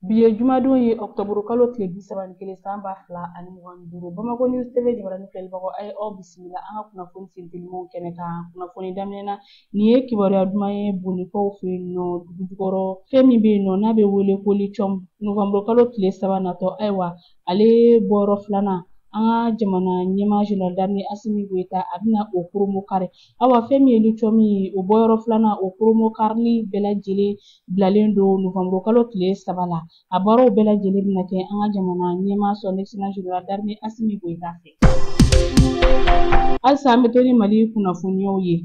Bi ye jumadon ye ɔkutɔburu kalo tile bi saba ni kelen san ba fila ani mugan ni duuru bamakɔ news tv jabarani filɛlibagaw a ye aw bisimila an ka kunnafoni sentelimaw kɛnɛ kan kunnafoni daminɛ na nin ye kibaruya duman ye Bugunikaw fɛ yen nɔ dugu jukɔrɔ fɛn min bɛ yen nɔ n'a bɛ wele ko lithium nowanburu kalo tile saba natɔ ayiwa ale bɔyɔrɔ filanan an ka jamana ɲɛmaa General d'armée Assimi Goïta a bɛna o kurunbonkari awa fɛn min ye lithium ye o bɔyɔrɔ filanan o kurunbonkarili bɛɛ lajɛlen bilalen don novembre kalo tile saba la a baaraw bɛɛ lajɛlen bɛna kɛ an ka jamana ɲɛmaa son excellence General d'armée Assimi Goïta fɛ halisa an bɛ to ni Mali kunnafoniyaw ye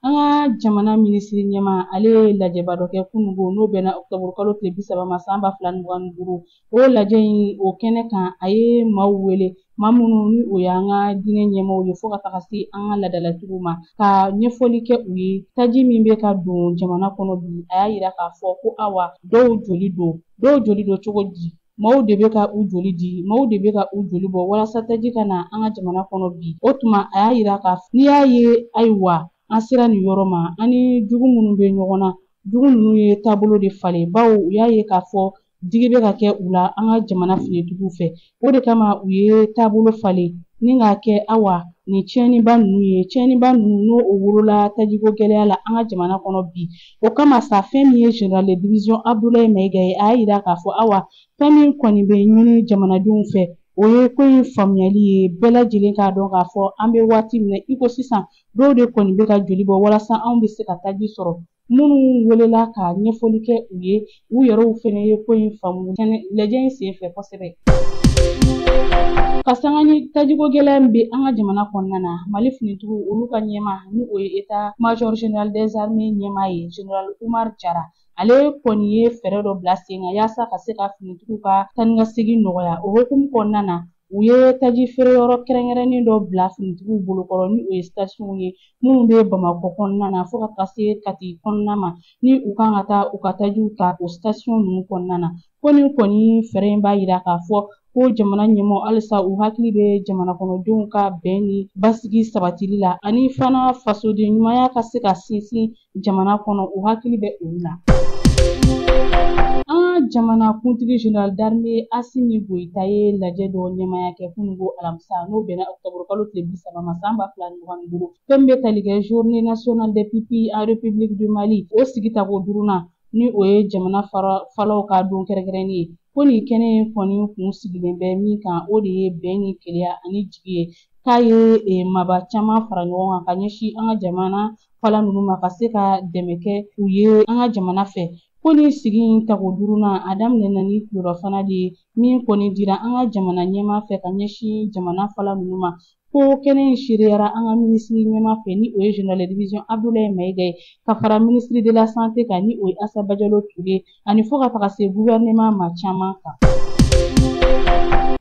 An ka jamana minisiri ɲɛmaa ale ye lajɛba dɔ kɛ kunungo n'o bɛnna ɔkutɔburu kalo tile bi saba ma san ba fila ni mugan ni duuru o lajɛ in o kɛnɛ kan a ye maaw wele maa minnu ni o y'an ka diinɛ ɲɛmaaw ye fo ka taga se an ka laadalatigiw ma ka ɲɛfɔli kɛ u ye taji min bɛ ka don jamana kɔnɔ bi a y'a yira k'a fɔ ko awa dɔw joli don dɔw joli don cogo di Maaw de bɛ ka u joli di maaw de bɛ ka u joli bɔ walasa taji ka na an ka jamana kɔnɔ bi o tuma a y'a yira k'a fɔ n'i y'a ye ayiwa an sera nin yɔrɔ ma an ni jugu minnu bɛ ɲɔgɔn na jugu ninnu ye taabolo de falen bawo u y'a ye k'a fɔ digi bɛ ka kɛ u la an ka jamana finitigiw fɛ o de kama u ye taabolo falen ni k'a kɛ awa nin tiɲɛniba ninnu ye tiɲɛniba ninnu n'o o wolola tajiko gɛlɛya la an ka jamana kɔnɔ bi O kama sa fɛn min ye General de division Abudulayi Mayiga ye, a y'a yira k'a fɔ awa fɛn min kɔni bɛ ɲini jamanadenw fɛ, o ye ko in faamuyali ye, bɛɛ lajɛlen k'a dɔn k'a fɔ an bɛ waati min na i ko sisan, dɔw de kɔni bɛ ka joli bɔ walasa anw bɛ se ka taji sɔrɔ. Minnu welela ka ɲɛfɔli kɛ u ye, U yɛrɛw fɛnɛ ye ko in faamu lajɛ in senfɛ kosɛbɛ. Ka sanga ni tajiko gɛlɛya min bɛ an ka jamana kɔnɔna na, Mali finitigiw olu ka ɲɛmaa ni o ye état major général des armées ɲɛmaa ye general Umar Jara ale kɔni ye fɛɛrɛ dɔ bila sen kan yaasa ka se ka finitigiw ka taanikasegin nɔgɔya. O hukumu kɔnɔna na, U ye taji feere yɔrɔ kɛrɛnkɛrɛnnen dɔ bila finitigiw bolokɔrɔ ni o ye sitasiyɔnw ye minnu bɛ Bamakɔ kɔnɔna na fo ka taa se Kati kɔnɔna ma ni u kan ka taa u ka tajiw ta o sitasiyɔn ninnu kɔnɔna na ko nin kɔni fɛɛrɛ in b'a yira k'a fɔ ko jamana ɲɛmaaw halisa u hakili bɛ jamanakɔnɔdenw ka bɛn ni basigi sabatili la ani fana fasoden ɲumanya ka se ka sinsin jamana kɔnɔ u hakili bɛ olu la an ka jamana kuntigi general d'armée asimi goyita ye lajɛ dɔ ɲɛmaaya kɛ kunungo alamisa n'o bɛnna octobre kalo tile bi saba ma san ba fila ni mugan ni duuru fɛn bɛ tali kɛ journée nationale des pupilles en république du mali o sigi tako duurunan ni o ye jamana falaw ka don kɛrɛnkɛrɛnnen ye ko nin kɛnɛ in kɔni kun sigilen bɛ min kan o de ye bɛn ni kelenya ani jigi ye k'a ye eh, maaba caman fara ɲɔgɔn kan ka ɲɛsin an ka jamana fala ninnu ma ka se ka dɛmɛ kɛ u ye an ka jamana fɛ ko nin sigi in tako duurunan a daminɛna ni tilerɔfana de ye min kɔni dira an ka jamana ɲɛmaa fɛ ka ɲɛsin jamana fala ninnu ma ko kɛnɛ in seereyara an ka minisiri ɲɛmaa fɛ ni o ye general de division abdulayi mayiga ye ka fara ministre de la santé kan ni o ye asa bajalo ture ani fo ka taga se gouvernement maa caman kan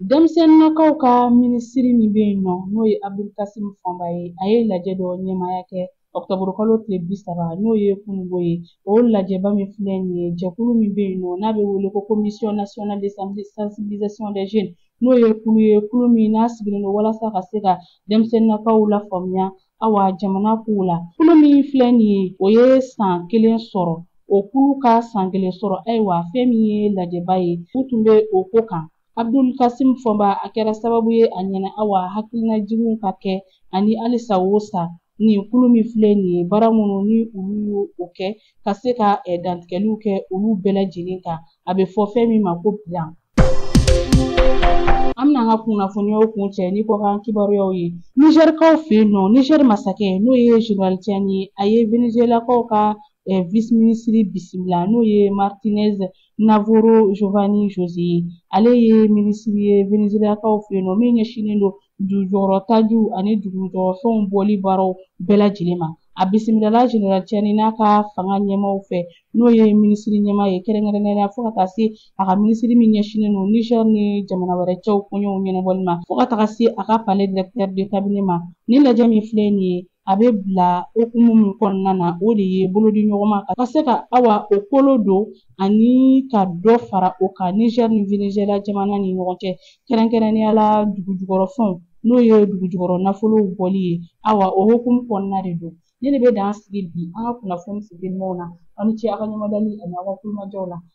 denmisɛnninnakaw ka minisiri min bɛ yen nɔ n'o ye abudulkasimu fɔnba ye a ye lajɛ dɔ ɲɛmaaya kɛ ɔkutɔburukalo tile bisaba n'o ye kunungo ye o lajɛba min filɛ nin ye jɛkulu min bɛ yen nɔ n'a bɛ wele ko commission nationale de sensibilisation des jeunes n'o ye kulu ye kulu min n'a sigilen don walasa ka se ka denmisɛnninnakaw lafaamuya Awa jamana kow la kulu min filɛ nin ye o ye san kelen sɔrɔ o kulu ka san kelen sɔrɔ ayiwa fɛn min ye lajɛba ye u tun bɛ o ko kan abdul kasim fɔnba a kɛra sababu ye a ɲɛna awa hakilinajiginw ka kɛ ani halisa o sa nin kulu min filɛ nin ye baara minnu ni olu y'o kɛ ka se ka dantigɛliw kɛ olu bɛɛ lajɛlen kan a bɛ fɔ fɛn min ma ko bilan an bɛna an ka kunnafoniyaw kuncɛ ni kɔkan kibaruyaw ye nizɛrikaw fɛ yen nɔ nizɛri masakɛ n'o ye general tiani ye a ye venezuelakaw ka vice minisiri bisimila n'o ye martinez navarro jovani jose ye ale ye minisiri ye venezuelakaw fɛ yen nɔ min ɲɛsinnen don dugujukɔrɔtajiw ani dugujukɔrɔfɛnw bɔli baaraw bɛɛ lajɛlen ma a bisimilala general tiani n'a ka fanga ɲɛmaaw fɛ n'o ye minisiri ɲɛmaa ye kɛrɛnkɛrɛnnenya fo ka taa se a ka minisiri min ɲɛsinnen don niger ni jamana wɛrɛ cɛw koɲɛw ɲɛnabɔli ma fo ka taga se a ka palais directeur de cabinet ma nin lajɛ min filɛ nin ye a bɛ bila hukumu min kɔnɔna na o de ye bolodiɲɔgɔnma ka se ka awa o kolo don ani ka dɔ fara o kan nizɛri ni venezuela jamana ni ɲɔgɔn cɛ kɛrɛnkɛrɛnnenya la dugujukɔrɔfɛnw n'o ye dugujukɔrɔ nafolow bɔli ye awa o hukumu kɔnɔna de don ne de bɛ dan sigi bi an ka kunnafoni sentelimanw na aw ni ce aw ka ɲɛmadali ani aw ka tulomajɔw la